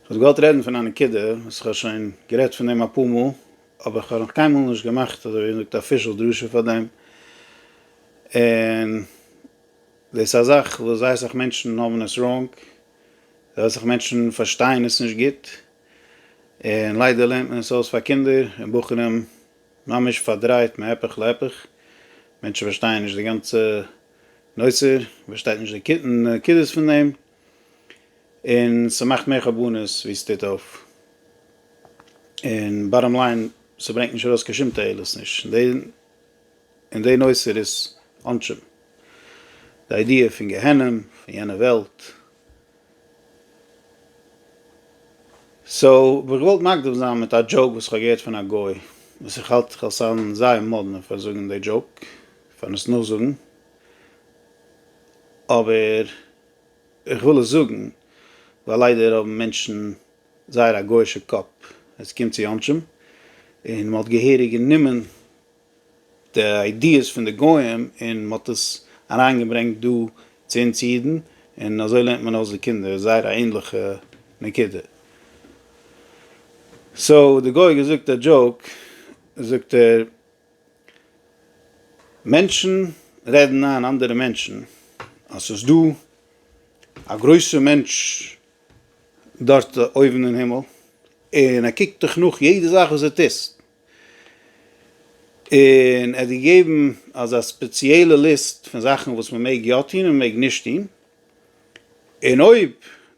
כ'וואלט געוואלט רעדן פון א נקודה וואס איך האב שוין גערעדט פון דעם אפאר מאל, אבער כ'האב נאך קיינמאל נישט געמאכט אזוי ווי מ'זאגט אפישעל דרשה פאר דעם, און דאס איז א זאך וואס זייער אסאך מענטשן האבן עס ראנג, זייער אסאך מענטשן פארשטייען עס נישט גוט, און ליידער לערנט מען עס אויס פאר קינדער און בחורים ממש פארדרייט מהפך להפך, מענטשן פארשטייען נישט די גאנצע נושא, מ'פארשטייט נישט די נקודות פון דעם. און ס'מאכט מער חרבנות ווי ס'טוט אויף, און באטאם ליין ס'ברענגט נישט ארויס קיין שום תועלת נישט און די נושא איז עונשים, די איידיע פון גיהנום פון יענע וועלט, סאו וואלט געוואלט מקדים זיין מיט א דזשאוק וואס כ'האב געהערט פון א גוי וואס איך האלט כ'וועל זיין זייער מאדנע פאר זאגן די דזשאוק פארן עס נאכזאגן. אבער איך וויל עס זאגן ווייל ליידער האבן מענטשן זייער א גויאישע קאפ ווען ס'קומט צו עונשים, און מ'האט געהעריג גענומען די איידיעס פון די גוים און מ'האט עס אריינגעברענגט דא צו אונז אידן, און אזוי לערנט מען אויס די קינדער, זייער א ענליכע נקודה. סאו די גוי האט געזאגט א דזשאוק, זאגט ער. מענטשן רעדן איין אנדערע מענטשן אז ס'איז דא א גרויסער מענטש דארט אויבן אין הימל און ער קוקט דיך נאך יעדע זאך וואס דו טוסט, און ער האט דיר געגעבן אזא ספעציעלע ליסט פון זאכן וואס מען מעג יא טון און מען מעג נישט טון, און אויב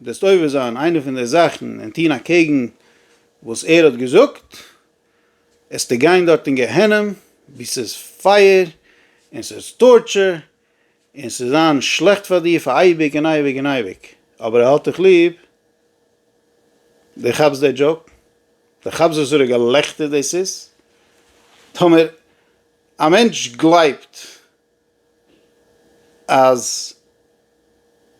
דו וועסט עובר זיין איינע פון די זאכן און טון אקעגן וואס ער האט געזאגט, עסטו גיין דארט אין גיהנום ווי ס'איז פייער און ס'איז טארטשער און ס'איז זיין שלעכט פאר דיר פאר אייביג און אייביג און אייביג, אבער ער האט דיך ליב, דו כאפסט די דזשאוק? דו כאפסט וואסארע געלעכטער דאס איז? טאמער א מענטש גלייבט אז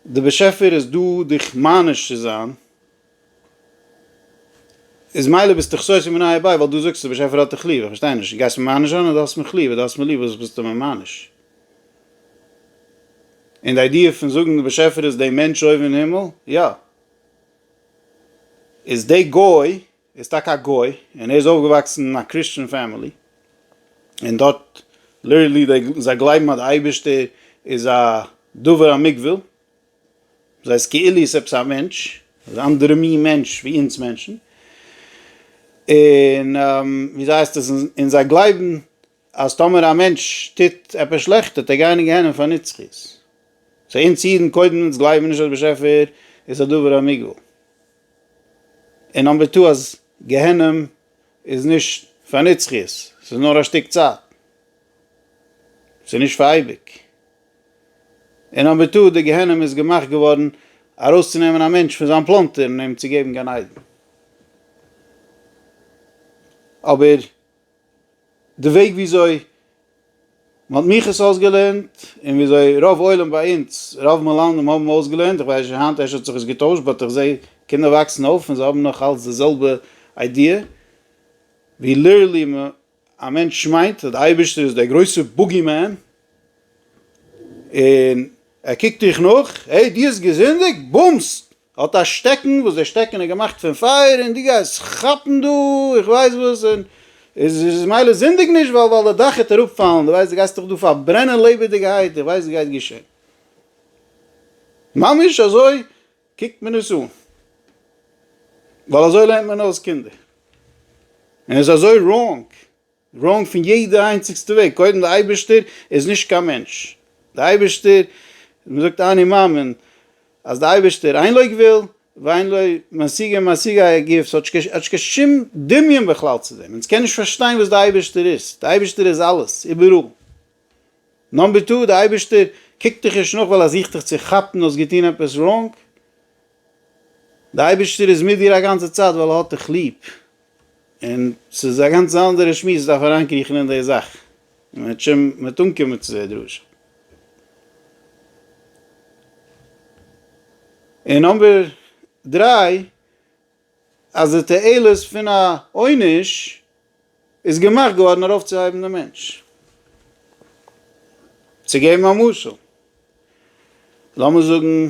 די באשעפער איז דא דיך מעניש צו זיין, איז מילא ביסטו חסוי מניה ב, ווייל דו זאגסט די באשעפער האט דיך ליב, איך פארשטיי נישט, דו גייסט מיר מעניש זיין אדער דו האסט מיך ליב, אויב דו האסט מיר ליב וואס ביסטו מיר מעניש? און די איידיע פון זאגן די באשעפער איז די מענטש אויבן אין הימל, יא, איז די גוי ער איז טאקע א גוי און ער איז אויפגעוואקסן אין א קריסטשען פעמילי און דארט ליטערלי זיי גלייבן אז די אייבערשטער איז א דבר המוגבל, דאס הייסט כאילו איז עפעס א מענטש, אן אנדערע מין מענטש ווי אונז מענטשן, און וויאזוי הייסט עס און זיי גלייבן אז טאמער א מענטש טוט עפעס שלעכט טוט ער גיין אין גיהנום פאר נצחית, סאו אונז אידן קודם אונז גלייבן נישט אז דער באשעפער איז א דבר המוגבל. און נאמבער טו אז גיהנום איז נישט פאר נצחיות, ס'איז נאר א שטיק צייט, ס'איז נישט פאר אייביג, און נאמבער טו די גיהנום איז געמאכט געווארן ארויסצונעמען א מענטש פון זיין פלאנטער און אים צו געבן גן עדן, אבער די וועג וויאזוי מ'האט מיך עס אויסגעלערנט, און וויאזוי רוב עולם ביי אונז, רוב מלמדים האבן אויסגעלערנט, איך ווייס נישט היינט אפשר האט זיך עס געטוישט, באט איך זעה קינדער וואקסן אויף און זיי האבן נאך אלץ די זעלבע איידיע, ווי ליטערלי מ א מענטש מיינט אז די אייבערשטער איז דער גרויסע בוגי מען, און ער קוקט דיך נאך, העי דו האסט געזינדיגט? בומסט! ער האט א שטעקן וואס דער שטעקן איז געמאכט פון פייער און דו גייסט כאפן דא איך ווייס וואס און איז מילא זינדיג נישט ווייל ווייל די דאך העט אראפ פאלן דו ווייסט דו גייסט דיך דא פארברענען לעבעדיגעהייט איך ווייס וואס גייט געשען ממש אזוי קוקט מען עס אן ווייל אזוי לערנט מען אויס קינדער און עס איז אזוי ראנג. ראונג פון יעדע איינציגסטע וועג, קודם די אייבערשטער איז נישט קיין מענטש, די אייבערשטער, מען זאגט אני מאמין אז די אייבערשטער אין לא גבול ואין לו משיגה משיגה א גוף, ס'האט נישט קיין שום דמיון בכלל צו דעם, אונז קען נישט פארשטיין וואס די אייבערשטער איז, די אייבערשטער איז אלעס, איבעראל. נאמבער טו, די אייבערשטער קוקט דיך נישט נאך ווייל ער זוכט דיך צו כאפן האסט געטון עפעס ראונג, די אייבערשטער איז מיט דיר א גאנצע צייט ווייל ער האט דיך ליב, און ס'איז א גאנץ אנדערע שמועס דארף אריינקריכן אין די זאך, און מ'וועט שוין מיט אנקומען צו די דרשה. און נאמבער דריי, אז די תועלת פון א עונש איז געמאכט געווארן ארויפצוהייבן די מענטש. צו געבן א משל, לאמיר זאגן.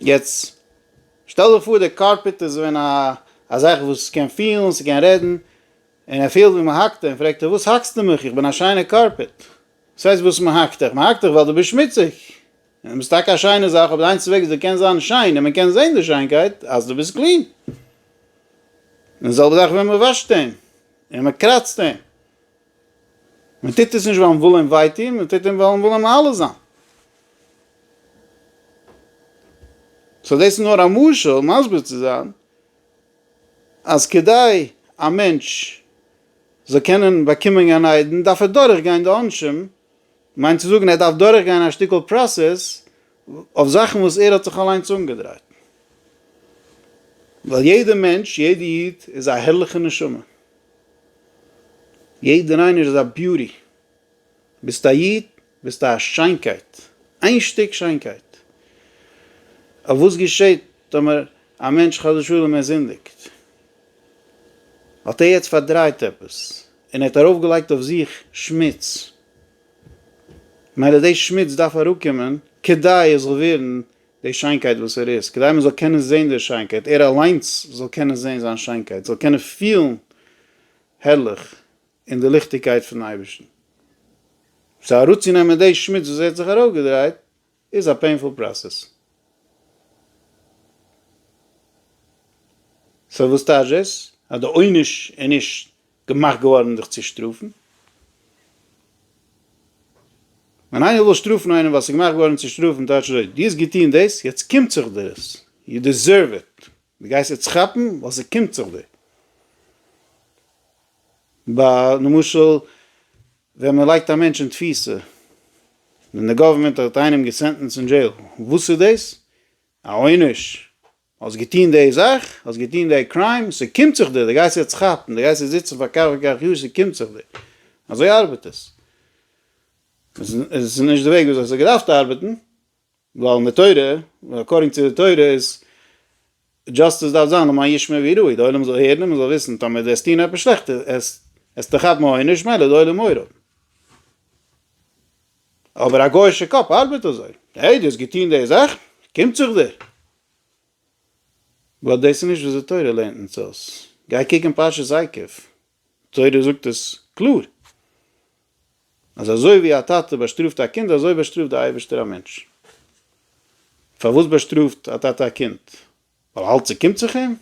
יעצט שטעל דיך פאר דער קארפעט איז ווען א א זאך וואס קען פילן, ס'קען רעדן, און ער פילט ווי מ'האקט אים, פרעגט ער וואס האקסט דו מיך? איך בין א שיינער קארפעט. וואס הייסט וואס מ'האקט דיך? מ'האקט דיך ווייל דו ביסט שמוציג. און דו ביסט טאקע א שיינע זאך, אבער די איינציגסטע וועג וואס דו קענסט זיין שיין און מ'קען זען די שיינקייט, אז דו ביסט קלין. און די זעלבע זאך ווען מ'וואשט אים, און מ'קראצט אים. מען טוט עס נישט ווייל מען וויל אים וויי טון, מען טוט אים ווייל מען וויל אים מעלה זיין. סאו דאס איז נאר א משל מסביר צו זיין אז כדי א מענטש זאל קענען באקומען גן עדן דארף ער דורך גיין די עונשים, מיינט צו זאגן ער דארף דורך גיין א שטיקל פראסעס אויף זאכן וואס ער האט זיך אליינס אנגעדרייט, ווייל יעדע מענטש, יעדע איד איז א הערליכע נשמה, יעדער איינער איז א ביוטי. ביסט א איד, ביסטו א שיינקייט. איין שטיק שיינקייט. אבער וואס געשעט טאמער א מענטש חס ושלום ער זינדיגט? האט ער יעצט פארדרייט עפעס, און ער האט ארויפגעלייגט אויף זיך שמוץ. ממילא די שמוץ דארף אראפקומען כדי ער זאל ווערן די שיינקייט וואס ער איז, כדי מען זאל קענען זען די שיינקייט, ער אליינס זאל קענען זען זיין שיינקייט, זאל קענען פילן הערליך אין די ליכטיגקייט פונעם אייבערשטן. סאו אראפצונעמען די שמוץ וואס ער האט זיך ארויפגעדרייט איז א פעינפול פראסעס. סאו וואס טייטש דאס? אז די עונש איז נישט געמאכט געווארן דיך צו שטראפן? ווען איינער וויל שטראפן איינעם ווייל ס'איז געמאכט געווארן צו שטראפן טייטש אזוי, דו האסט געטון דאס, יעצט קומט זיך דיר עס, יו דיזערוו איט, דו גייסט יעצט כאפן ווייל ס'קומט זיך דיר. ביי למשל ווען מען לייגט א מענטש אין תפיסה, ווען די גאווערמענט האט איינעם געסענטענסט אין דזשעיל, וואס איז דאס? א עונש? האסט געטוהן די זאך, האסט געטוהן די קריים, ס'קומט זיך דיר, די גייסט יעצט כאפן, די גייסט יעצט זיצן פאר כך וכך יאר, ס'קומט זיך דיר. אזוי ארבעט עס. עס איז נישט די וועג וויאזוי עס האט געדארפט ארבעטן, ווייל אין די תורה, אקארדינג צו די תורה איז דזשאסטיס דארף זיין למען ישמע ויראו, די עולם זאל הערן און מ'זאל וויסן, טאמער די וועסט טוהן עפעס שלעכטס, עסטו כאפן עונש, מילא די עולם אויער האבן. אבער א גויאישע קאפ ארבעט אזוי, העי דו האסט געטוהן די זאכן, קומט זיך דיר. ווייל דאס איז נישט וויאזוי תורה לערנט אונז אויס, גיי קוק אין פרשת עקב, תורה זאגט עס קלאר, אז אזוי ווי א טאטע באשטראפט א קינד אזוי באשטראפט די אייבערשטער א מענטש. פארוואס באשטראפט א טאטע א קינד? ווייל אלץ קומט זיך אים?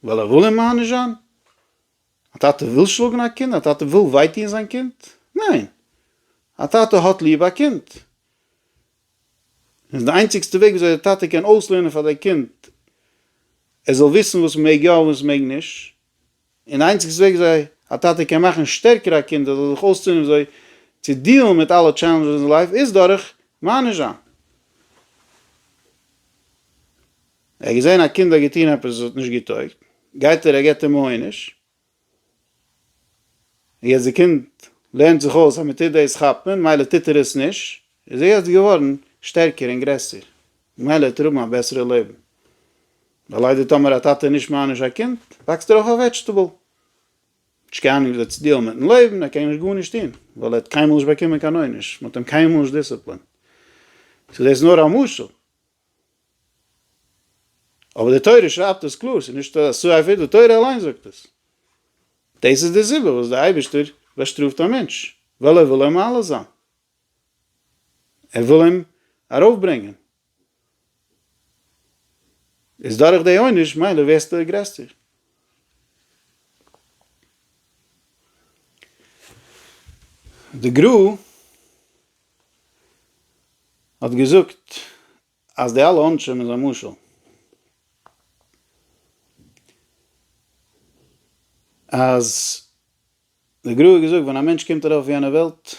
ווייל ער וויל אים מעניש זיין? א טאטע וויל שלאגן א קינד? א טאטע וויל וויי טוען זיין קינד? ניין! א טאטע האט ליב א קינד. און די איינציגסטע וועג וויאזוי דער טאטע קען אויסלערנען פאר דער קינד ער זאל וויסן וואס מ'מעג יא און וואס מ'מעג נישט, און די איינציגסטע וועג וויאזוי א טאטע קען מאכן שטערקער א קינד ער זאל זיך אויסלערנען וויאזוי צו דיעלן מיט אלע טשעלענדזשעס אין זיין לייף איז דורך מעניש זיין. ער האט געזען א קינד האט געטון עפעס וואס האט נישט געטויגט, גייט ער ער געבט אים עונש, און יעצט די קינד לערנט זיך אויס אז מען טוט דאס כאפן, מילא טוט ער עס נישט, איז ער יעצט געווארן שטערקער און גרעסער, ממילא וועט ער האבן א בעסערע לעבן, ווייל ליידער טאמער א טאטע נישט מעניש א קינד, וואקסט ער אויף א וועדזשטעבל, האט נישט קיין אנונג וויאזוי צו דיעלן מיטן לעבן, ער קען נישט גארנישט טון, ווייל ער האט קיינמאל נישט באקומען קיין עונש, מען האט אים קיינמאל נישט דיסציפלינט, ס'איז דאס נאר א משל. אבער די תורה שרייבט עס קלאר, ס'איז נישט א סייפער, די תורה אליין זאגט עס. דאס איז די סיבה וואס דער אייבערשטער באשטראפט א מענטש, ווייל ער וויל אים מעלה זיין, ער וויל אים ארויפברענגען, איז דורך די עונש מילא ווערסטו גרעסטער. די גרא. האט געזאגט אז די אלע עונשים איז א משל אז די גרא האט געזאגט ווען א מענטש קומט ארויף אויף יענע וועלט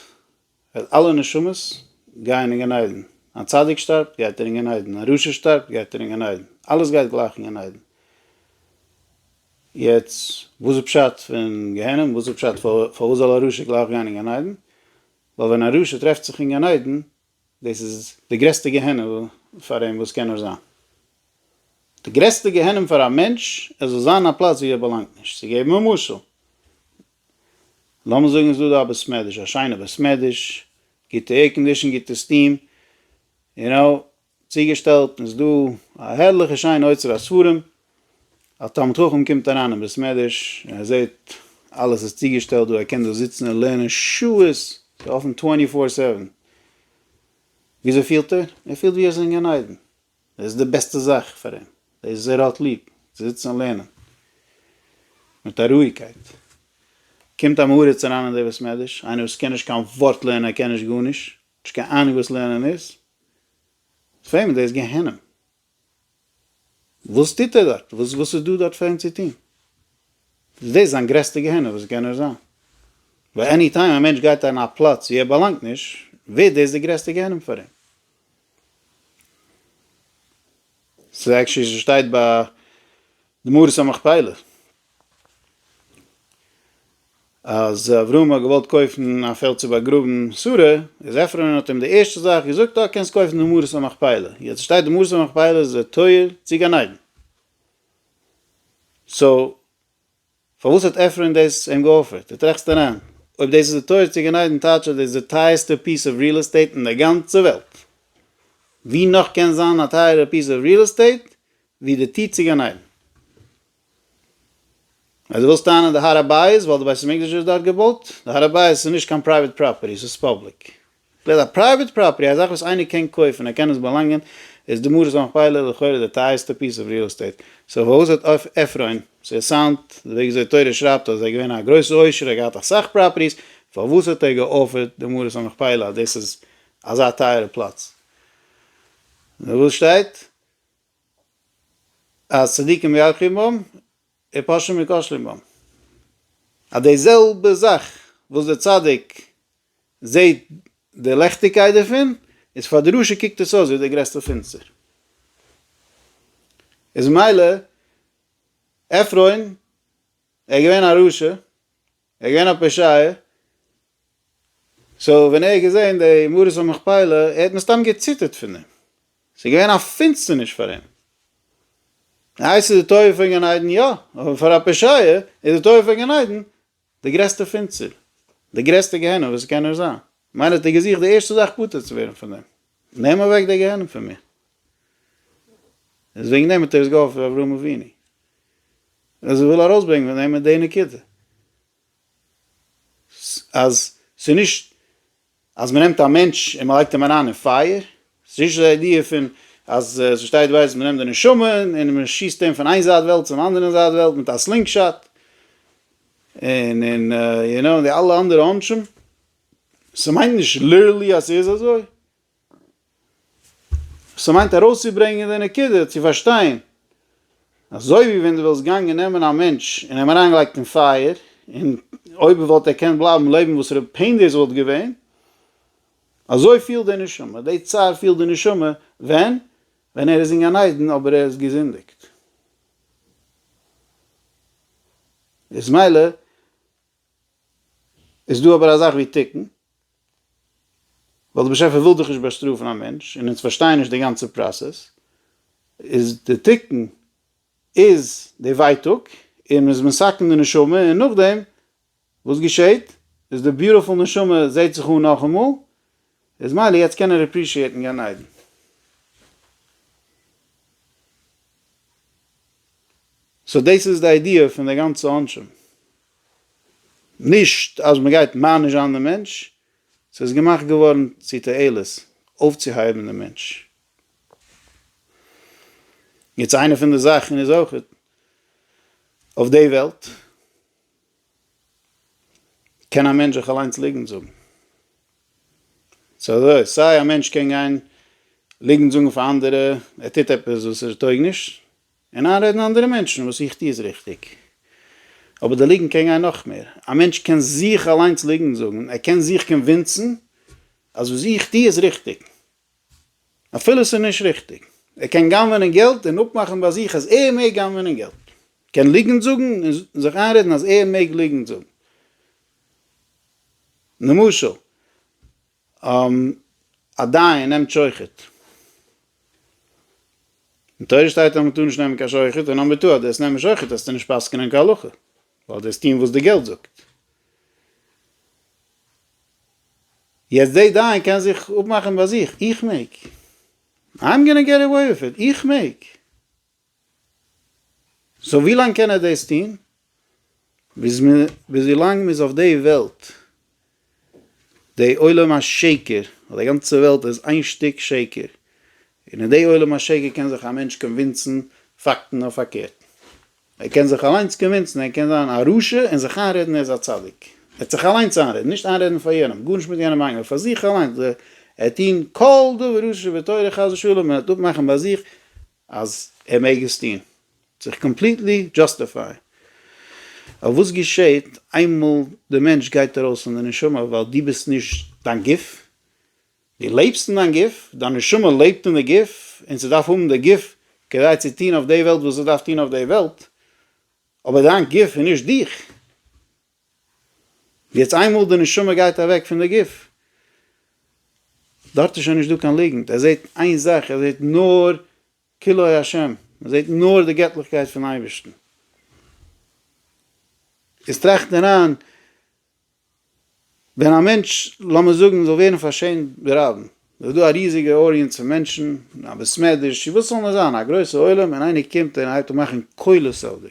וועט אלע נשמות גייען אין גן עדן א צדיק שטארבט גייט ער אין גן עדן א רשע שטארבט גייט ער אין גן עדן אלעס גייט גלייך אין גן עדן יעצט וואס איז פשט פון גיהנום וואס איז פשט פארוואס זאל א רשע גלייך גיין אין גן עדן? ווייל ווען א רשע טרעפט זיך אין גן עדן, דאס איז די גרעסטע גיהנום פאר אים וואס קען נאר זיין. די גרעסטע גיהנום פאר א מענטש, ער זאל זיין אין א פלאץ וואו ער באלאנגט נישט. צו געבן א משל, לאמיר זאגן איז דא דא א בית מדרש, א שיינע בית מדרש, גוטע עירקאנדישן, גוטע סטיעם, יו נאו, צוגעשטעלט איז דא א הערליכע שיינע אוצר הספרים, א תלמיד חכם קומט אריין אין בית מדרש און ער זעט אלעס איז צוגעשטעלט דא, ער קען דא זיצן און לערנען שעות, ס'איז אפן טווענטי פאר סעווען, וויאזוי פילט ער? ער פילט ווי ער איז אין גן עדן, דאס איז די בעסטע זאך פאר אים, דאס וואס ער האט ליב, צו זיצן און לערנען מיט א רואיגקייט, קומט א מעריץ אריין אין די בית מדרש, איינער וואס קען נישט קיין ווארט לערנען, ער קען נישט גארנישט, נישט קיין אהנונג וואס לערנען איז, פרעגט מען דאס איז גיהנום, וואס טוט ער דארט, וואס וואס איז דא דארט פאר אים צו טון, איז דאס זיין גרעסטע גיהנום וואס קען נאר זיין, ווייל עני טיים א מענטש גייט אין א פלאץ ווי ער באלאנגט נישט, ווערט דאס די גרעסטע גיהנום פאר אים. ס'איז עקשי ס'שטייט ביי די מערת המכפילה אז אברהם האט געוואלט קויפן א פעלד צו באגראבן שרה, איז עפרון האט אים די ערשטע זאך געזאגט אה קענסט קויפן די מערת המכפילה, יעצט שטייט די מערת המכפילה איז די טויער צו גן עדן, סאו פארוואס האט עפרון דאס אים געאפערט? די טראכסט אריין אויב דאס איז די טויער צו גן עדן טייטש אז דאס איז די טייערסטע פיס אוו ריעל עסטעיט אין די גאנצע וועלט, ווי נאך קען זיין א טייערע פיס אוו ריעל עסטעיט ווי די טיר צו גן עדן. אז דו ווילסט טענה'ן די הר הבית ווייל די בית המקדש איז דארט געבויט, די הר הבית איז נישט קיין פרייוועט פראפערטי, ס'איז פובליק. בלע ז א פרייוועט פראפערטי, א זאך וואס איינער קען קויפן, ער קען עס באלאנגען, איז די מערת המכפלה לכאורה די טייערסטע פיס אוו ריעל עסטעיט. סאו וואו איז עט עפרון? ס'איז סאונד, די וועג וויאזוי תורה שרייבט אז ער איז געווען א גרויסע עושר, ער האט געהאט אסאך פראפערטיס, פארוואס האט ער געאפערט די מערת המכפלה אז דאס איז אזא טייערע פלאץ? נו וואס שטייט? אז צדיקים ירחו בם ופושעים מכשלים בם, אז די זעלבע זאך וואס די צדיק זעהט די לעכטיגקייט דערפון, איז פאר די רשע קוקט עס אויס ווי די גרעסטע פינצטער, איז מילא עפרון ער איז געווען א רשע, ער איז געווען א פושעי, סאו ווען ער האט געזען די מערת המכפלה ער האט מסתם געציטערט פון דעם, ס'איז געווען א פינסטערניש פאר אים. די הייסטע תאוה פון גן עדן יא, אבער פאר א פושעי איז די תאוה פון גן עדן די גרעסטע פינסטער, די גרעסטע גיהנום וואס ס'קען נאר זיין, כ'מיין ער האט געזוכט די ערשטע זאך פטור צו ווערן פון דעם. נעם אוועק די גיהנום פון מיר. איז וועגן דעם האט ער עס געהאפט פון אברהם אבינו. אז ער וויל ארויסברענגען פון דעם איז די נקודה. אז ס'איז נישט אז מ'נעמט א מענטש און מ'לייגט אים אריין אין פייער. ס'איז נישט די איידיע פון אז ס'שטייט ווייס אז מ'נעמט די נשמה און מ'שיסט אים פון איין זייט וועלט צום אנדערן זייט וועלט מיט א סלינג שאט. און און יו נאו די אלע אנדערע עונשים. ס'מיינט נישט ליטערלי אז ס'איז אזוי. ס'מיינט ארויסצוברענגען די נקודה צו פארשטיין, אזוי ווי ווען דו וואלסט געגאנגען נעמען א מענטש און אים אריינגעלייגט אין פייער, און אויב וואלט ער געקענט בלייבן לעבן וואס רע פעין דאס וואלט געווען, אזוי פילט די נשמה, די צער פילט די נשמה, ווען? ווען ער איז אין גן עדן אבער ער איז געזינדיגט. איז מילא. איז דא אבער א זאך ווי תיקון, ווייל די באשעפער וויל דאך נישט באשטראפן א מענטש, און אונז פארשטייען נישט די גאנצע פראסעס, איז די תיקון איז די ווייטאג, און מ'איז מסכן די נשמה, און נאכדעם וואס געשעהט? איז די ביוטיפול נשמה זעהט זיך אן נאכאמאל, איז מילא יעצט קען ער עפרישיעטן גן עדן. סאו דאס איז די איידיע פון די גאנצע עונשים. נישט אז מען גייט מענישאן דעם מענטש, ס'איז געמאכט געווארן צו תועלת, אויפצוהייבן דעם מענטש. יעצט איינע פון די זאכן איז אויך אויף די וועלט קען א מענטש זיך אליינס ליגנט זאגן. ס'איז אזוי, סיי א מענטש קען גיין ליגנט זאגן פאר אנדערע ער טוט עפעס וואס ער טויג נישט, און איינרעדן אנדערע מענטשן וואס איך טו איז ריכטיג. אבער די ליגנט קען גיין נאך מער. א מענטש קען זיך אליינס ליגנט זאגן, ער קען זיך קאנווינסן אז וואס איך טו איז ריכטיג, אפילו ס'איז נישט ריכטיג. ער קען גנב'נען געלט און אפמאכן ביי זיך אז ער מעג גנב'נען געלט. קען ליגנט זאגן און זיך איינרעדן אז ער מעג ליגנט זאגן. למשל. א דיין נעמט שוחד. אין תורה שטייט אז מען טאר נישט נעמען קיין שוחד, און אז מען טאר דאס נעמען שוחד האסטו נישט פסק'נען כהלכה, ווייל דו האסט טון וואס די געלט זאגט. יעצט די דיין קען זיך אפמאכן ביי זיך, איך מעג, איים גאנא געט עוועי וויט איט, איך מעג. סאו ווילאנג קען ער דאס טון? ביז מ ביז ווילאנג מ'איז אויף די וועלט. די עולם השקר, די גאנצע וועלט איז איין שטיק שקר, און אין די עולם השקר קען זיך א מענטש קאנווינסן פאקטן אויף פארקערט. ער קען זיך אליינס קאנווינסן, ער קען זיין א רשע און זיך איינרעדן ער איז א צדיק. ער וועט זיך אליינס איינרעדן, נישט איינרעדן פאר יענעם, גארנישט מיט יענעם איינגעהויבן, פאר זיך אליינס. ער וועט טון כל דבר שבתורה חס ושלום, ער וועט אפמאכן ביי זיך, אז ער מעג עס טוהן, זיך קאמפליטלי דזשאסטיפייען, ווייל וואס געשעהט איינמאל די מענטש גייט ארויס פון די נשמה, ווייל דו ביסט נישט דיין גוף, דו לעבסט אין דיין גוף, דיין נשמה לעבט אין די גוף, און ס'דארף האבן די גוף כדי צו טוהן אויף די וועלט וואס ס'דארף טוהן אויף די וועלט, אבער דיין גוף איז נישט דיך. יעצט איינמאל די נשמה גייט אוועק פון די גוף, דארט איז שוין נישט דא קיין ליגנט, ער זעט איין זאך, ער זעט נאר כלאי השם, ער זעט נאר די געטליכקייט פון אייבערשטן. איז טראכט אריין, ווען א מענטש, לאמיר זאגן, זאל ווערן פארשעמט ברבים, עס איז דא א ריזיגע אוידיענץ פון מענטשן, א בית מדרש, צו וואס זאל מען זיין, א גרויסע עולם, און איינער קומט און הייבט אן מאכן קולות אויף דיר,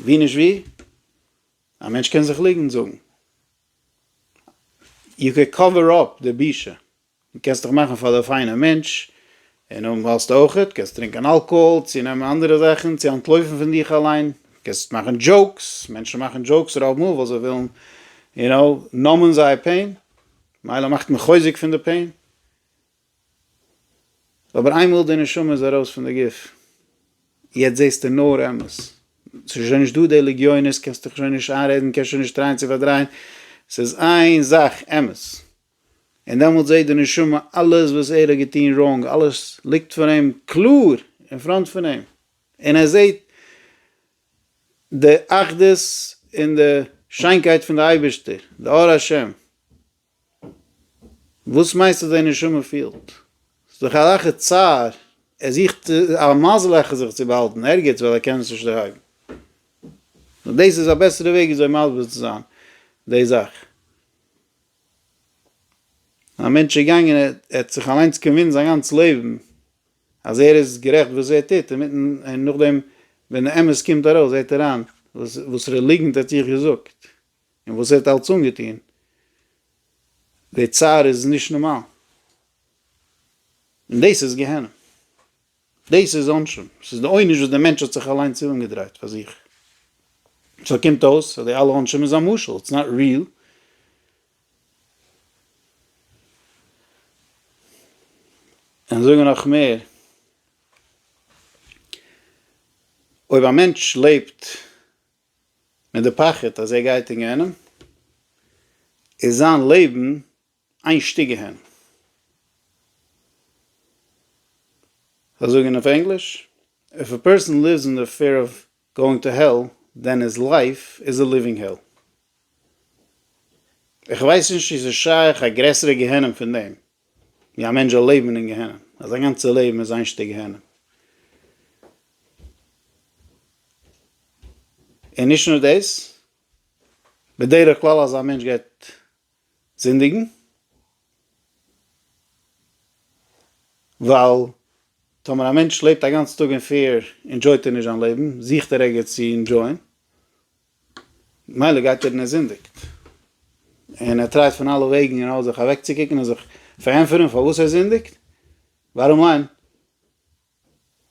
ווי נישט ווי, א מענטש קען זיך ליגנט זאגן, יו קען קאווער אפ די בושה, דו קענסט דיך מאכן פאר די פיינע מענטש, און אויב ווילסטו אויכעט, קענסטו טרינקען אלקאהאל, צו נעמען אנדערע זאכן, צו אנטלויפן פון דיך אליין, קענסט מאכן דזשאוקס, מענטשן מאכן דזשאוקס רוב מאל ווייל זיי ווילן, יו נאו, נאמען זייער פעין, מילא מאכט מען חוזק פון די פעין. אבער איינמאל די נשמה איז ארויס פון די גוף, יעצט זעסטו נאר אמת, ס'איז שוין נישט דא די לגיונות, קענסט דיך שוין נישט איינרעדן, קענסט שוין נישט טרייען צו פארדרייען, ס'איז איין זאך אמת, און דעמאלטס זעט די נשמה אלעס וואס ער האט געטון ראנג, אלעס ליגט פאר אים קלאר אין פראנט פון אים, און ער זעט די אחדות און די שיינקייט פון די אייבערשטער, די אור השם. וואס מיינסטו די נשמה פילט? ס'איז דאך א רייכע צער, ער זוכט א מזל העכער זיך צו באהאלטן ערגעץ ווייל ער קען עס נישט דערהייבן. נאר דאס איז א בעסערע וועג וויאזוי מסביר צו זיין די זאך. א מענטש איז געגאנגען ער האט זיך אליינס קאנווינסט זיין גאנץ לעבן אז ער איז גערעכט וואס ער טוט, אינמיטן און נאכדעם ווען די אמת קומט ארויס זעט ער איין וואס ר' ליגנט האט זיך געזאגט. און וואס ער האט אלץ אנגעטון, די צער איז נישט נארמאל, און דאס איז גיהנום, דאס איז עונשים, דאס איז די עונש וואס די מענטש האט זיך אליינס אנגעדרייט פאר זיך, סאו קומט אויס אז די אלע עונשים איז א משל, איטס נאט ריעל. און זאגן נאך מער, אויב א מענטש לעבט, מיט די פחד אז ער גייט אין גיהנום, איז זיין לעבן איין שטיק גיהנום. זיי זאגען אויף ענגליש, איף א פערסאן ליווס אין די פער אוו גאוינג טו העל, דען היז לייף איז א ליווינג העל. איך ווייס נישט צו ס'איז שייך א גרעסערע גיהנום פון דעם. ווי א מענטש זאל לעבן אין גיהנום, אז זיין גאנצע לעבן איז איין שטיק גיהנום. און נישט נאר דאס, בדרך כלל אז א מענטש גייט זינדיגן, ווייל טאמער א מענטש לעבט א גאנץ טאג אין פעיר, אינדזשויט ער נישט זיין לעבן, זוכט ער ערגעץ צו אינדזשויען, מילא גייט ער און ער זינדיגט, און ער טרייט פון אלע וועגן און אלע זיך אוועקצוקוקן און זיך פארענטפערן פארוואס ער זינדיגט, בארום ליין,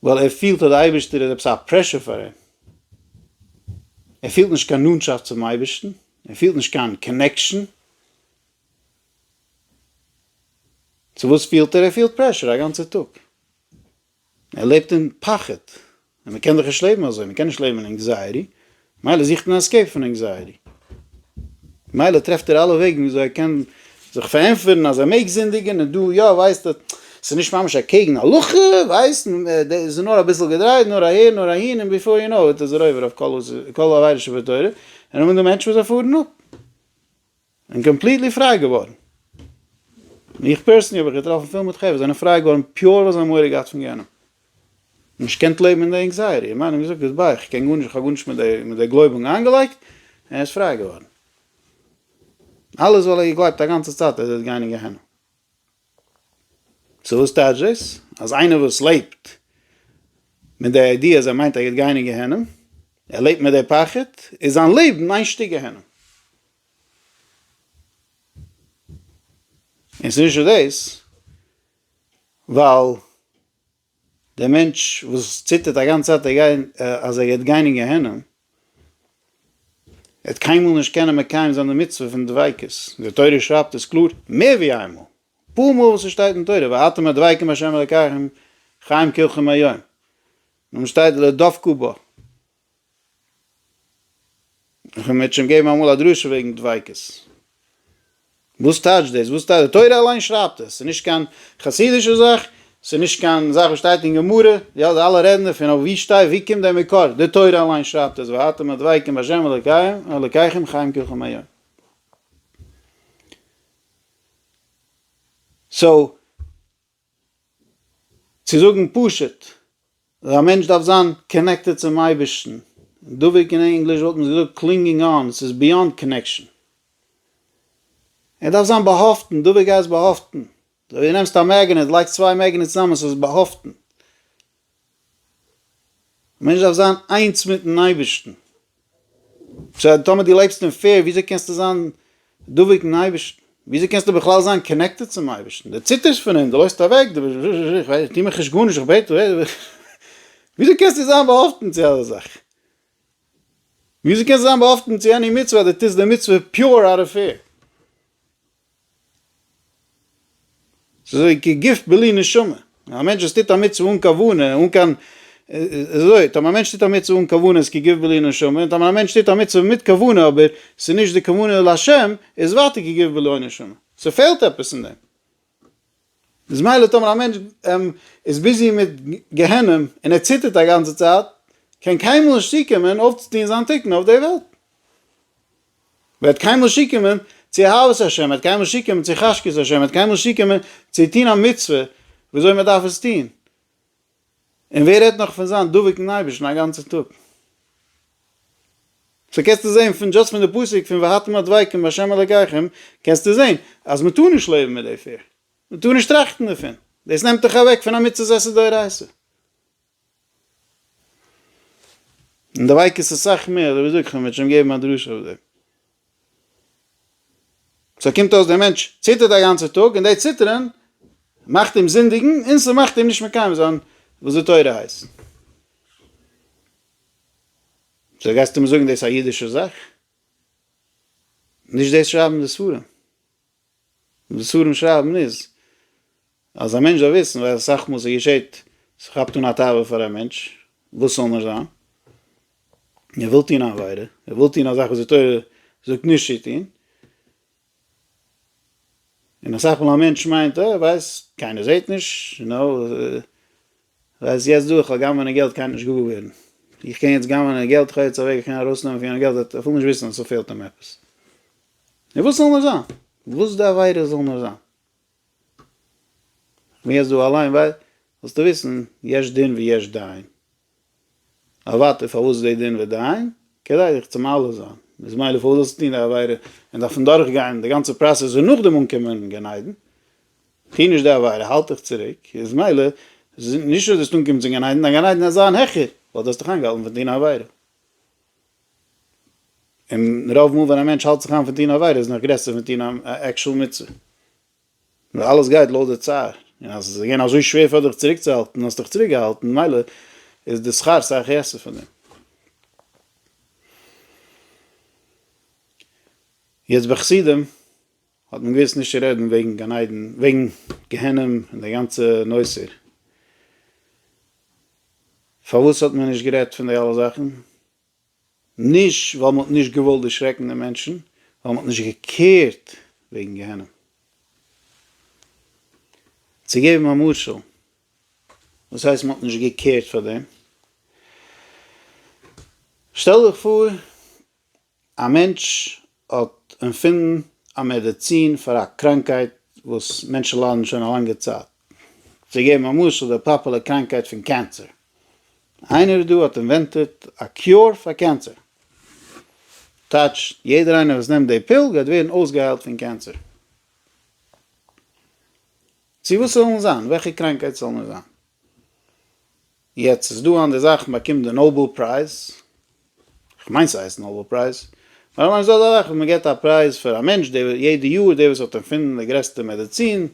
ווייל ער פילט אז דער אייבערשטער איז עפעס א פרעשור פאר אים, ער פילט נישט קיין נאנטשאפט צום אייבערשטן, ער פילט נישט קיין קאנעקשאן, צו וואס פילט ער? ער פילט פרעשור א גאנצע טאג. ער לעבט אין פחד, און מען קען דאך נישט לעבן אזוי, מען קען נישט לעבן אין ענקזייעטי, מילא זוכט מען עסקעיפ פון ענקזייעטי, מילא טרעפט ער אלע וועגן ווי אזוי ער קען זיך פארענטפערן אז ער מעג זינדיגען, און דא יא, ווייסט ער, ס'איז נישט ממש אקעגן הלכה, ווייסט, ס'איז נאר אביסל געדרייט, נאר אהער, נאר אהין, און ביפאר יו נאו איט איז ער עובר אויף כל עבירה שבתורה, און אמאל דא מענטשן וואס זיי פארן אפ. און קאמפליטלי פריי געווארן. מיך פערסענלי האב איך געטראפן פיל מיט חברה זענען פריי געווארן פיור ווייל זיי האבן מורא געהאט פון גיהנום. נישט געקענט לעבן אין די ענקזייעטי. א מאן האט געזאגט ביז ביי איך קען גארנישט איך האב גארנישט מיט די מיט די גלויבונג איינגעלייגט און ער איז פריי געווארן. אלעס ווייל ער האט געגלייבט א גאנצע צייט אז ער וועט גיין אין גיהנום. סאו וואס טייטש דאס? אז איינער וואס לעבט מיט די איידיע אז ער מיינט ער גייט גיין אין גיהנום, ער לעבט מיט די פחד, איז זיין לעבן איין שטיק גיהנום. און ס'איז נישט נאר דאס, ווייל דער מענטש וואס ציטערט א גאנצע צייט אז ער גייט גיין אין גיהנום, ער וועט קיינמאל נישט קענען מקיים זיין די מצוה פון דביקות, די תורה שרייבט עס קלאר מער ווי איין מאל, אפאר מאל וואס עס שטייט אין תורה ואתם הדבקים בה' אלקיכם חיים כולכם היום, און שטייט לא דבקו בו. איך וועל מיר שוין געבן אמאל א דרשה וועגן דביקות. וואס טייטש דאס? וואס טייטש? די תורה אליין שרייבט עס. ס'איז נישט קיין חסידישע זאך, ס'איז נישט קיין זאך וואס שטייט אין גמרא, די אלע רעדן דערפון, אבער ווי שטיי, ווי קומט דער מקור? די תורה אליין שרייבט עס, והייתם הדבקים בהשם אלוקיכם חיים כולכם היום. סאו. צו זאגן פשוט, אז א מענטש דארף זיין קאנעקטעד צום אייבערשטן, דבוק אין ענגליש וואלט מען געזאגט קלינגינג אן, ס'איז ביאנד קאנעקשאן. ער דארף זיין באהאפטן, דבוק הייסט באהאפטן, אזוי ווי דו נעמסט א מעגנעט, לייגסט צוויי מעגנעטס צוזאמען, ס'איז באהאפטן. א מענטש דארף זיין איינס מיטן אייבערשטן. סא טאמער דו לעבסט אין פעיר, וויאזוי קענסטו זיין דבוק אין אייבערשטן? וויאזוי קענסטו בכלל זיין קאנעקטעד צום אייבערשטן? דו ציטערסט פון אים, דו לויפסט אוועק, דו ביסט זשע, איך טוה מיך נישט גארנישט, איך בעט, וויאזוי קענסטו זיין באהאפטן צו אזא זאך? וויאזוי קענסטו זיין באהאפטן צו עני מצוה אז דו טוסט די מצוה פיור אוט אוו פעיר? ס'איז אזוי כי גוף בלי נשמה, א מענטש וואס טוט א מצוה אן כוונה, אן קיין, ס'איז אזוי, טאמער א מענטש טוט א מצוה אן כוונה איז כי גוף בלי נשמה, און טאמער א מענטש טוט א מצוה מיט כוונה אבער ס'איז נישט די כוונה לשם, איז ווייטער כי גוף בלא נשמה. ס'פעלט עפעס אין דעם. איז מילא טאמער א מענטש איז ביזי מיט גיהנום און ער ציטערט א גאנצע צייט, קען קיינמאל נישט צוקומען אויפצוטון זיין תיקון אויף די וועלט. מען וועט קיינמאל שיקומען צו אהבת השם, מען וועט קיינמאל שיקומען צו חשקת השם, מען וועט קיינמאל שיקומען צו טון א מצוה ווי אזוי מען דארף עס טון, און ווער רעדט נאך פון זיין דבוק אין אייבערשטן א גאנצע טאג. סאו קענסטו זען פון דשאסט פון די פסוק פון והייתם הדבקים בהשם אלקיכם קענסטו זען אז מען טאר נישט לעבן מיט די פיר, מען טאר נישט טראכטן דערפון, דאס נעמט דיך אוועק פון א מצות עשה דאורייסא, און די ווייקעס איז סאך מער, אדער וויאזוי קען מען שוין געבן א דרשה אויף דעם? סאו קומט אויס דער מענטש ציטערט א גאנצע טאג און די ציטערען מאכט אים זינדיגן און ס'מאכט אים נישט מקיים זיין וואס די תורה הייסט. סאו גייסטו מיר זאגן דאס איז א אידישע זאך? נישט דאס שרייבן די ספרים. וואס ספרים שרייבן איז אז א מענטש זאל וויסן ווייל אסאך מאל ס'געשעט ס'כאפט אן א תאווה פאר א מענטש וואס ס'זאל נישט זיין און ער וויל טון א עבירה ער וויל טון א זאך וואס די תורה זאגט נישט צו טון און אסאך מאל א מענטש מיינט אה כ'ווייס קיינער זעט נישט נו. ר' יעצט דא איך האב גנב'נע געלט קיינער נישט געוואר געווערן איך קען יעצט גנב'נע געלט איך האב יעצט א וועג איך קען ארויסנעמען פון יענעם געלט ער טאר אפילו נישט וויסן אז ס'פעלט אים עפעס נו וואס זאל נאר זיין וואס די עבירה זאל נאר זיין איך בין יעצט דא אליין ווייל זאלסטו וויסן יש דין ויש דיין אוואטאר פארוואס איז דעי דין ודעיין? כדי דיך צו מעלה זיין, איז מילא פארוואס זאלסטו טון די עבירה און דארפן דורך גיין די גאנצע פראסעס און נאכדעם אנקומען גן עדן? טו נישט די עבירה, האלט דיך צוריק, איז מילא נישט אז דו וועסט אנקומען צום גן עדן, דיין גן עדן וועט זיין העכער ווייל דו האסט דיך איינגעהאלטן פון טון א עבירה. און רוב מאל ווען א מענטש האלט זיך איין פון טון א עבירה איז נאך גרעסער פון טון א עקשאל מצוה. ווייל אלעס גייט לויט די צער, און אז עס איז געווען אזוי שווער פאר דיך צוריקצוהאלטן, האסטו דיך צוריקגעהאלטן, ממילא איז די שכר סך העסער פון דעם. יעצט ביי חסידים האט מען געוואוסט נישט צו רעדן וועגן גן עדן, וועגן גיהנום און די גאנצע נושא. פארוואס האט מען נישט גערעדט פון די אלע זאכן? נישט ווייל מ'האט נישט געוואלט דערשרעקן די מענטשן, ווייל מ'האט נישט געקערט וועגן גיהנום. צו געבן א משל, וואס הייסט מ'האט נישט געקערט פאר דעם? שטעל דיך פאר א מענטש האט ערפינדן א מעדעצין פאר א קראנקייט וואס מענטשן ליידן שוין א לאנגע צייט. צו געבן א משל, די פאפולער קראנקייט פון קענסער. איינער דא האט אינווענטעט א קיור פאר קענסער. טייטש, יעדער איינער וואס נעמט די פיל גייט ווערן אויסגעהיילט פון קענסער. צו וואס זאל מען זיין? וועלכע קראנקייט זאל מען זיין? יעצט איז דא אנדערע זאכן באקומט די נאבעל פרייז, כ'מיין ס'הייסט נאבעל פרייז, נאר למשל אזא זאך ווי מ'געט א פרייז פאר א מענטש דער יעדע יאר דער וואס האט ערפינדן די גרעסטע מעדעצין,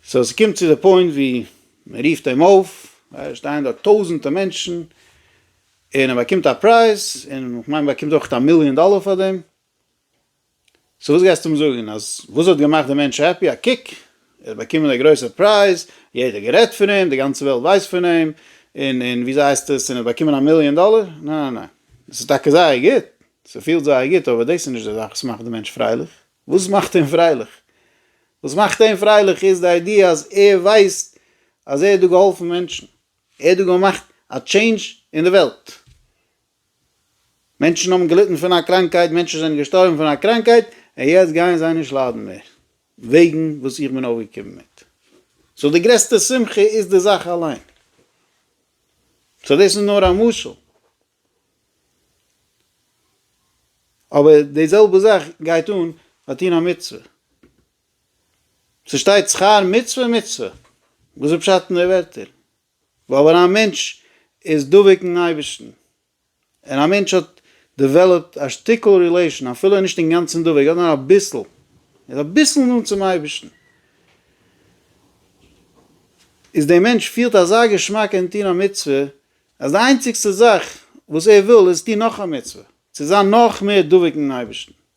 סאו ס'קומט צו די פוינט ווי מ'רופט אים אויף, עס שטייען דארט טויזענטע מענטשן, און ער באקומט א פרייז, און כ'מיין מ'באקומט אויכעט א מיליאן דאלער פאר דעם, סאו וואס גייסטו אים זאגן? אז וואס האט געמאכט די מענטש העפי? א קוק! ער האט באקומען א גרויסע פרייז, יעדער גערעדט פון אים, די גאנצע וועלט ווייסט פון אים, און און וויאזוי הייסט עס, און ער האט באקומען א מיליאן דאלער? נע נע נע. דאס איז טאקע זייער גוט, ס'פילט זייער גוט, אבער דאס איז נישט די זאך וואס מאכט די מענטש פרייליך. וואס מאכט אים פרייליך? וואס מאכט אים פרייליך איז די איידיע אז ער ווייסט אז ער האט דא געהאלפן מענטשן, ער האט דא געמאכט א טשעינדזש אין די וועלט. מענטשן האבן געליטן פון א קראנקהייט, מענטשן זענען געשטארבן פון א קראנקהייט, און יעצט גייען זיי נישט ליידן מער, וועגן וואס איך בין אויפגעקומען מיט. סאו די גרעסטע שמחה איז די זאך אליין. סאו דאס איז נאר א משל. אבער די זעלבע זאך גייט אן ביי טון א מצוה. ס'שטייט שכר מצוה מצוה. וואס איז פשט אין די ווערטער? ווייל ווען א מענטש איז דבוק אין אייבערשטן, און א מענטש האט דעוועלאפט א שטיקל רילעישאן, אפילו ער איז נישט אינגאנצן דבוק, ער האט נאר אביסל, ער איז אביסל נאנט צום אייבערשטן, איז דער מענטש פילט אזא געשמאק אין טון א מצוה, אז די איינציגסטע זאך וואס ער וויל איז טון נאך א מצוה, צו זיין נאך מער דבוק אין אייבערשטן,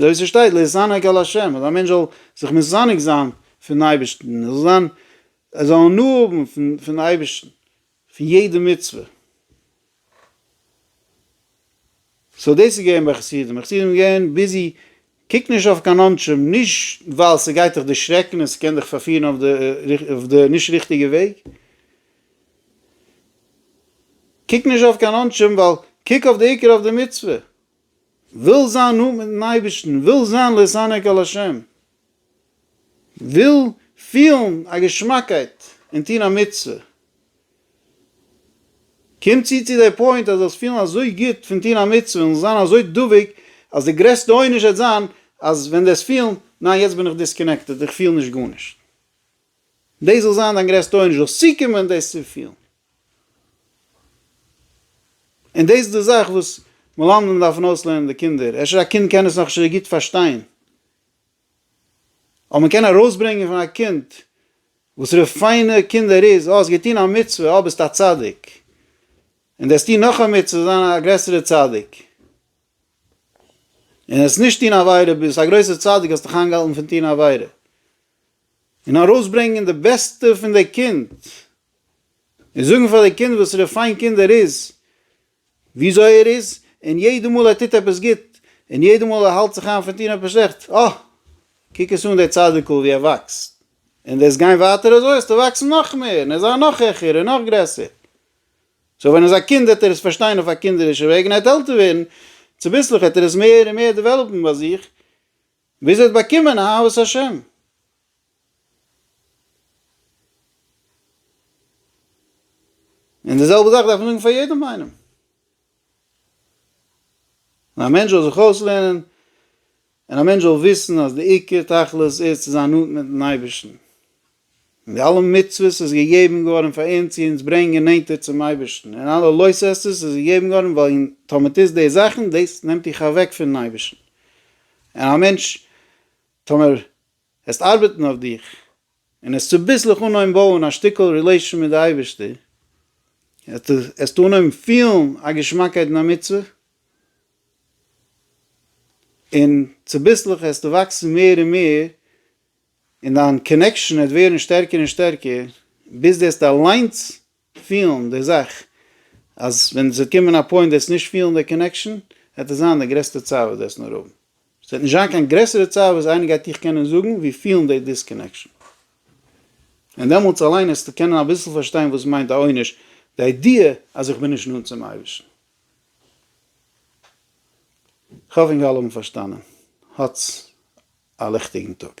אזוי ווי ס'שטייט להתענג על ה', אז א מענטש זאל זיך מתענג זיין פון אייבערשטן, ער זאל זיין, ער זאל הנאה האבן פון פון אייבערשטן, פון יעדע מצוה. סאו דאס איז געווען ביי חסידים, חסידים איז געווען ביזי, קוק נישט אויף קיין אנשים, נישט ווייל ס'גייט דיך דערשרעקן און ס'קען דיך פארפירן אויף די נישט ריכטיגע וועג, קוק נישט אויף קיין עונשים ווייל קוק אויף די עיקר אויף די מצוה, וויל זיין נאנט מיטן אייבערשטן, וויל זיין להתענג על השם, וויל פילן א געשמאקייט אין טון א מצוה, קום צו צו די פוינט אז זאלסט פילן אזוי גוט פון טון א מצוה און זיין אזוי דבוק אז די גרעסטע עונש וועט זיין אז ווען די וועסט פילן ניין יעצט בין איך דיסקאנעקטעד איך פיל נישט גארנישט. דאס זאל זיין דיין גרעסטע עונש, זאלסט צוקומען דאס צו פילן. און דאס איז די זאך וואס מלמדים דארפן אויסלערנען די קינדער, אפשר א קינד קען עס נאך נישט אזוי גוט פארשטיין, אבער מען קען ארויסברענגען פון א קינד וואסערע פיינע קינד ער איז, אה, האסט געטון א מצוה, אה, ביסט א צדיק, און דאס טון נאך א מצוה איז זיין א גרעסערע צדיק, און עס נישט טון עבירה, ביסט א גרויסע צדיק, האסט דיך איינגעהאלטן פון טון עבירה. און ארויסברענגען די בעסטע פון די קינד, און זאגן פאר די קינד וואסערע פיין קינד ער איז, וויאזוי ער איז, און יעדע מאל ער טוט עפעס גוט, און יעדע מאל ער האלט זיך איין פון טון עפעס שלעכט, אה! קוק עס אן דער צדיק'ל ווי ער וואקסט, און וועסט גיין ווייטער אזוי וועסטו וואקסן נאך מער, און עס זיין נאך העכער און נאך גרעסער. סאו ווען ער איז א קינד וועט ער עס פארשטיין אויף א קינדערישע וועג, און ער וועט עלטער ווערן, צוביסלעך וועט ער עס מער און מער דעוועלאפן ביי זיך, ווי זי האט באקומען אהבת השם. און די זעלבע זאך דארף מען זאגן פאר יעדעם איינעם. און א מענטש זאל זיך אויסלערנען, און א מענטש זאל וויסן אז די עיקר תכלית איז צו זיין נאנט מיט'ן אייבערשטן. און די אלע מצוות איז געגעבן געווארן פאר אונז צו אונז ברענגען נענטער צום אייבערשטן, און אלע לא תעשה'ס איז געגעבן געווארן וועגן טאמער טוסט די זאכן דאס נעמט דיך אוועק פונעם אייבערשטן, און א מענטש טאמער העסט ארבעטן אויף דיך און העסט צוביסלעך אנהויבן בויען א שטיקל רילעישאן מיט די אייבערשטער, העסטו אנהויבן פילן א געשמאקייט אין א מצוה, און צוביסלעך העסטו וואקסן מער און מער און דיין קאנעקשאן וועט ווערן שטערקער און שטערקער ביז דו וועסט אליינס פילן די זאך אז ווען עס וועט קומען א פוינט וועסט נישט פילן די קאנעקשאן וועט עס זיין די גרעסטע צער וואס דו וועסט נאר האבן. עס וועט נישט זיין קיין גרעסערע צער וואס איינער גייט דיך קענען זאגן ווי פילן די דיסקאנעקשאן. און דעמאלטס אליין וועסטו קענען אביסל פארשטיין וואס מיינט א עונש, די איידיע אז איך בין נישט נאנט צום אייבערשטן. כ'האף אינגאלע האבן פארשטאנען. האטס א ליכטיגן טאג.